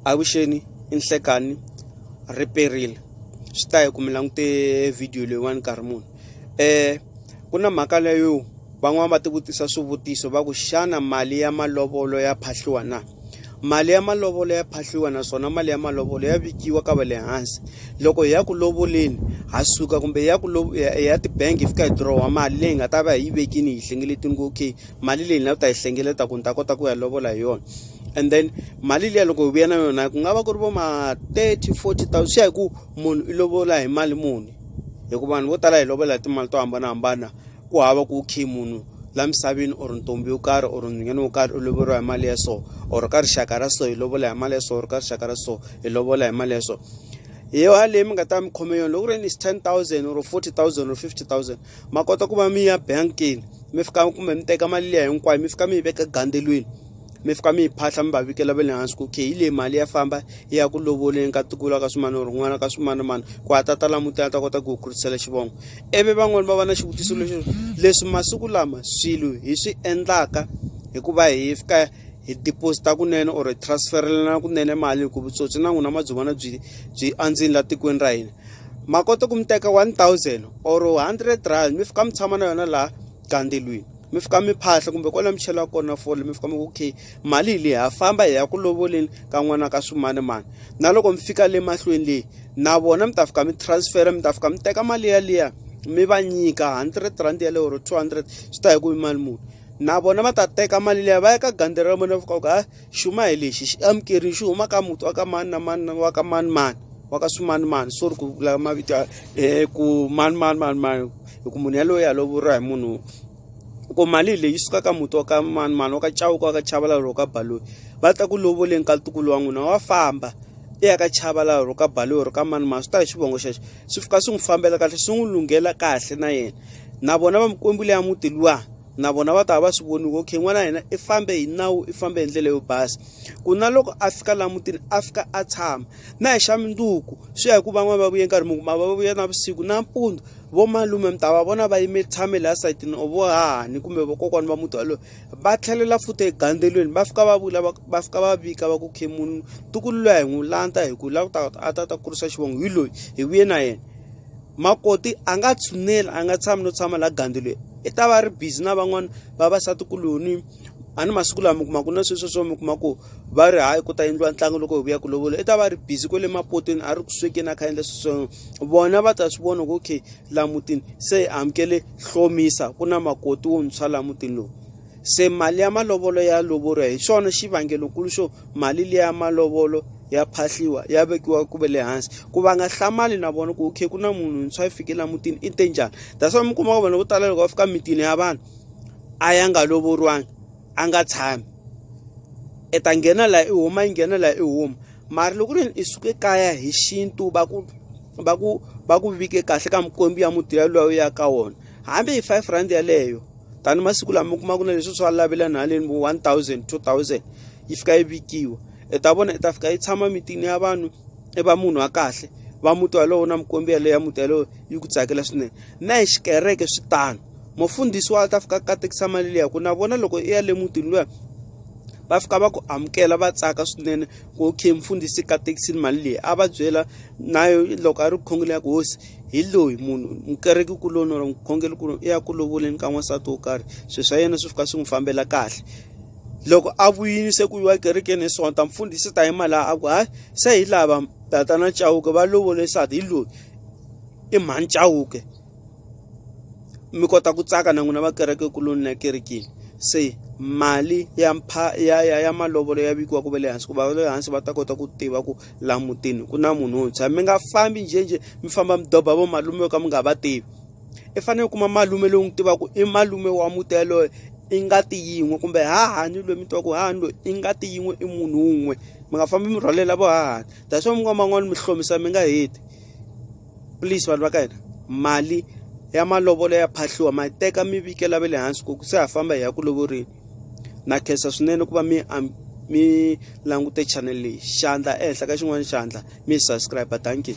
avuxeni i nhlekani ri perile swi ta hi ku mi langute video leyiwani nkarhi muni um ku na mhaka leyo van'wani va tivutisa swivutiso va ku xana mali ya malovolo ya phahliwa na mali ya malovolo ya phahliwa naswona mali ya malovolo ya vikiwa ka va le hansi loko hi ya ku lovoleni ha suka kumbe hi ya ku ya tibangi hi fika hi dirowa mali leyi nga ta va hi yi vekini hi hlengeletini ku okay mali leyi na u ta yi hlengeleta ku ni ta kota ku ya lovola hi yona and then mali liya loko hi vuya na yona ku nga va ku ri vo ma 30 40 thousand swi ya hi ku munhu i lovola hi mali muni hikuva vanhu vo tala hi lovola hi timali to hambanahambana ku hava ku khe munhu la misaveni or ntombi yo karhi or nhwanyana wo karhi u loveriwa hi mali ya so or ka rixaka ra so hi lovola hi mali ya so or ka rixaka ra so hi lovola hi mali ya so hi yona leyi mi nga ta mi khome yona loko ri ni ten thousand or forty thousand or fifty thousand ma kota ku va mi ya bankini mi fika kumbe mi teka mali liya hinkwayo mi fika mi yi veka gandelweni mi fika mi yi phahla mi va vikela va le hansi ku okay hi leyi mali ya famba yi ya ku lovoleni ka tikula ka swimani or n'wana ka swimanimani ku a tata la mutini a ta kota ku hi kurisela xivongo ivi van'wani va va na xivutiso lexi leswi masiku lama swilo hi swi endlaka hikuva hi fika hi deposita kunene or hi transferelana kunene mali hi ku vutsotsi na n'wina madzovana byi byi andzini la tikweni ra hina ma kota ku mi teka 1000 or 100 rand mi fika mi tshama na yona laha gandelweni mi fika mi phahla kumbe kona mi chela kona fole mi fika mi ku okay mali hi leyi ha famba hi ya ku lovoleni ka n'wana ka swimani mani na loko mi fika le mahlweni leyi na vona mi ta fika mi transfera mi ta fika mi teka mali yaliya mi va nyika 100 rand yaleyo or 200 swi ta hi ku i mali muni na vona va ta teka mali liya va ya ka gandhi ra vona va fika ku a xuma hi lexi xi amukerile xi huma ka muti wa ka mani na mani na wa ka mani mani wa ka swimanimani so ri ku vula mavito ya um ku mani mani mani mani hi ku munhu yaloye a lovoriwa hi munhu ku mali leyi suka ka muti wa ka mani mani wa ka chawuka wa ka chavalala ro ka baloyi va ta ku lovoleni ka ntukulu wa n'wina wa famba i ya ka chavalala ro ka baloyi ro ka mani mani swi ta hi xivongo xexo swi fika swi n'wi fambela kahle swi n'wi lunghela kahle na yena na vona va mikwembu leya muti luwa na vona va ta va swi voni ku okay n'wana yena i fambe hi nawu i fambe hi ndlela yo basa ku na loko a fika laha mutini a fika a tshama na hi xa minduku swi ya hi ku van'wani va vuye nkarhi mungu ma va vuya na vusiku nampundzu vo malume mi ta va vona va yime tshame laha sayitini or vo hahani kumbe vakokwana va muti walowo va tlhelela futhi egandelweni va fika va vula va fika va vika va ku khe munhu tukulu loyi a hi n'wi lanta hi ku lava ta a ta ta kurisa xivongo hi loyi hi vuye na yena makoti a nga tshuneli a nga tshami no tshama laha gandelweni i ta va ri busy na van'wana vavasatikuluhi a ni masiku lama mi kuma ku na sweswo swo mi kuma ku va ri hayi ku ta endliwa ntlangu loko hi vuya ku lovola i ta va ri busy kwale mapotweni a ri ku swekeni a kha endla sweswo vona va ta swi vona ku okay laha mutini se hi amukele hlomisa ku na makoti wontshwa laha mutini lowu se mali ya malovolo ya lovoriwa hi xona xivangelokulu xo mali leyi ya malovolo ya phahliwa ya vekiwa ku ve le hansi ku va nga hlamali na vona ku okay ku na munhu ntshwa yi fikile emutini i te njhani that's why mi kuma ku vanhu vo tala loko va fika mitini ya vanhu a ya nga lovoriwangi a nga tshami i ta nghena laha i huma yi nghena laha i huma mara loko ri i suke kaya hi xintu va ku va ku va ku vike kahle ka mikwembu ya muti ya loyi ya ka wona hambi hi five rand yeleyo tani masiku lama mi kuma ku na leswi swa lavela nhaleni vo 1000 2000 yi fika yi vikiwa i ta vona i ta fika yi tshama mitini ya vanhu i va munhu wa kahle va muti walowo na mikombi yaleyo ya muti yalowo yi ku tsakela swinene na hi xikereke swi tano mufundhisi wa ta fika katekisa mali leya ku na vona loko i ya le mutini luya va fika va ku amukela va tsaka swinene ku okay mfundhisi katekisini mali leyi a va byela nayo loko a ri khongela ya ku hosi hi loyi munhu mukereke kuloni or mukhongeli kuloni i ya ku lovoleni ka n'wansati wo karhi swilo swa yena swi fika swi n'wi fambela kahle loko a vuyini se ku yiwa ekerekeni hi sonta mfundhisi ta yima laha a ku hayi se hi lava tatana chawuke va lovole nsati hi loyi i mhani chawuke mi kota ku tsaka na n'wina va kereke kuloni na kerekeni se mali ya mpha ya ya ya malovolo ya vikiwa ku va le hansi ku va le hansi va ta kota ku tiva ku laha mutini ku na munhu wuntshwa mi nga fambi njhenjhe mi famba mi doba vo malume yo ka mi nga va tivi i fanele u kuma malume lowu n'wi tivaka i malume wa muti yaloye i ngati yin'we kumbe hahani loyi mi tiva ku hahani loyi i ngati yin'we i munhu wun'we mi nga fambi mi rhwalela vo hahani that's why minkwama man'wani mi hlomisa mi nga heti please vanhu va ka hina mali ya malovolo ya phahliwa ma yi teka mi vikela va le hansi ku se ha famba hi ya ku lovorini na khensa swinene ku va mi mi langute channel leyi xandla ehenhla ka xin'wana xandla mi subscribe dankie